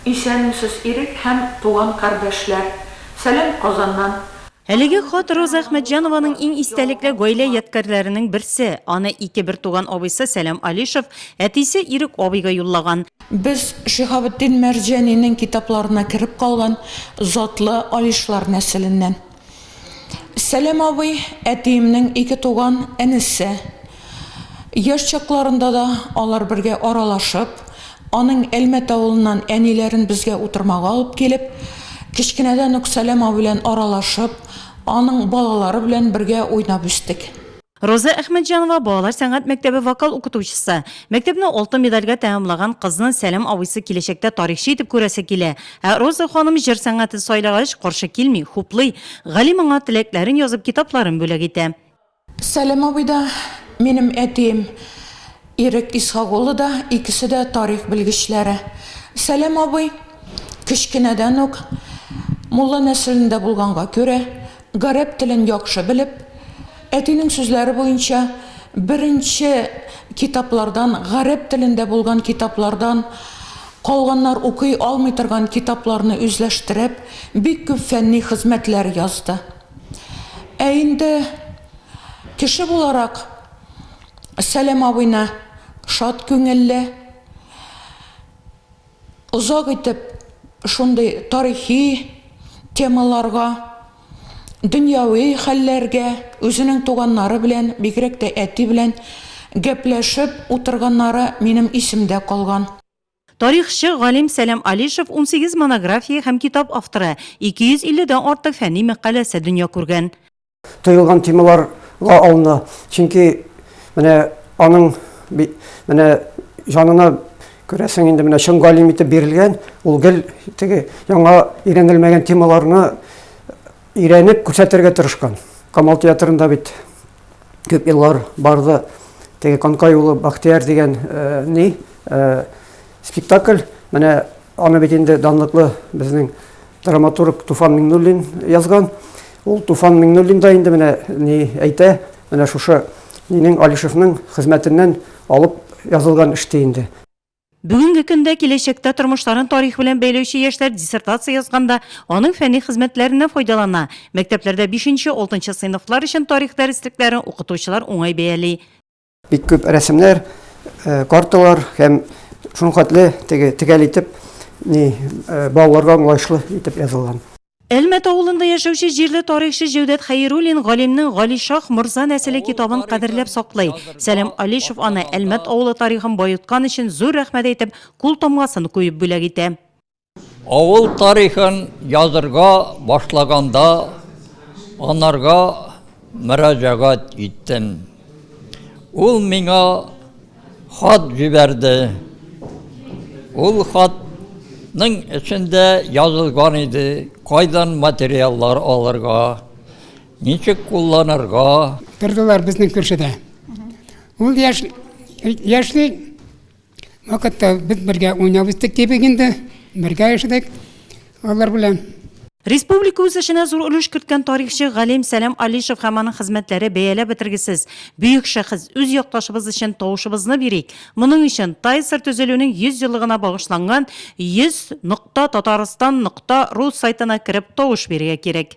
Исәнмесез Ирек һәм туган кардәшләр! Сәлам Казаннан! Әлеге хат Роза Әхмәтҗанованың иң истәлекле гаилә ядкарьләренең берсе. Аны ике бертуган абыйсы Сәлам Алишев, әтисе Ирек абыйга юллаган. Без Шиһабетдин Мәрҗәнинең китапларына кереп калган затлы Алишлар нәселеннән. Сәләм абый, әтиемнең ике туган энесе. Яшь чакларында да алар бергә аралашып, аның Әлмәт авылыннан әниләрен безгә утырмага алып килеп, кечкенәдән үк Сәләм абый белән аралашып, аның балалары белән бергә уйнап үстек. Роза Әхмәтҗанова балалар сәнгать мәктәбе вокал укытучысы. Мәктәпне алтын медальгә тәмамлаган кызны Сәлам абыйсы киләчәктә тарихчы итеп күрәсе килә. Ә Роза ханым җыр сәнгатен сайлагач, каршы килми, хуплый. Галим аңа теләкләрен язып, китапларын бүләк итә. Сәлам абый да, минем әтием Ирек Исхак улы да, икесе дә тарих белгечләре. Сәлам абый кечкенәдән үк мулла нәселендә булганга күрә, Гарәп телен яхшы белеп, әтинең сүзләре буенча, беренче китаплардан, гарәп телендә булган китаплардан, калганнар укый алмый торган китапларны үзләштереп, бик күп фәнни хезмәтләр язды. Ә инде кеше буларак Сәлам абыйны шат күңелле, Озак итеп шундый тарихи темаларга, дөньяви хәлләргә, үзенең туганнары белән, бигрәк тә әти белән гәпләшеп утырганнары минем исемдә калган. Тарихчы галим Сәлам Алишев унсигез монография һәм китап авторы, ике йөз илледән артык фәнни мәкаләсе дөнья күргән. Тоелган темалар ла алына, чөнки менә аның менә җанына күрәсең инде менә чын галим итеп бирелгән, ул гел теге яңа өйрәнелмәгән темаларны өйрәнеп күрсәтергә тырышкан. Камал театрында бит күп еллар барды теге Канкай улы Бахтияр дигән э, ни э, спектакль, менә аны бит инде данлыклы безнең Драматург Туфан Миңнуллин язган. Ул Туфан Миңнуллин да инде менә ни әйтә, менә шушы минең Алишевның хезмәтеннән алып язылган эш ди инде. Бүгенге көндә, киләчәктә тормышларын тарих белән бәйләүче яшьләр диссертация язганда аның фәнни хезмәтләреннән файдалана. Мәктәпләрдә бишенче, алтынчы сыйныфлар өчен тарих дәреслекләрен укытучылар уңай бәяли. Бик күп рәсемнәр, э, карталар һәм шуның хәтле теге тегәл итеп ни э, балаларга аңлаешлы итеп язылган. Әлмәт авылында яшәүче җирле тарихчы Җәүдәт Хәйруллин галимнең Гали Шах морза нәселе китабын кадерләп саклый. Сәлим Алишев аны Әлмәт авылы тарихын баюткан өчен зур рәхмәт әйтеп, кул тамгасын куеп бүләк итә. Авыл тарихын язырга башлаганда анарга мөрәҗәгать иттем. Ул миңа хат җибәрде. Ул хатның эчендә язылган иде, кайдан материаллар алырга, ничек кулланырга. Тордылар безнең күршедә. Ул яшь яшьли Вакытта без бергә уйнап үстек кебек инде, бергә яшәдек алар белән. Республика үсешенә зур өлеш керткән тарихчы, галим Сәлам Алишев һәм аның хезмәтләре бәяләп бетергесез. Бөек шәхес, үз якташыбыз өчен тавышыбызны бирик. Моның өчен TISR төзелүнең 100 еллыгына багышланган 100.Tatarstan.ru сайтына кереп тавыш бирергә кирәк.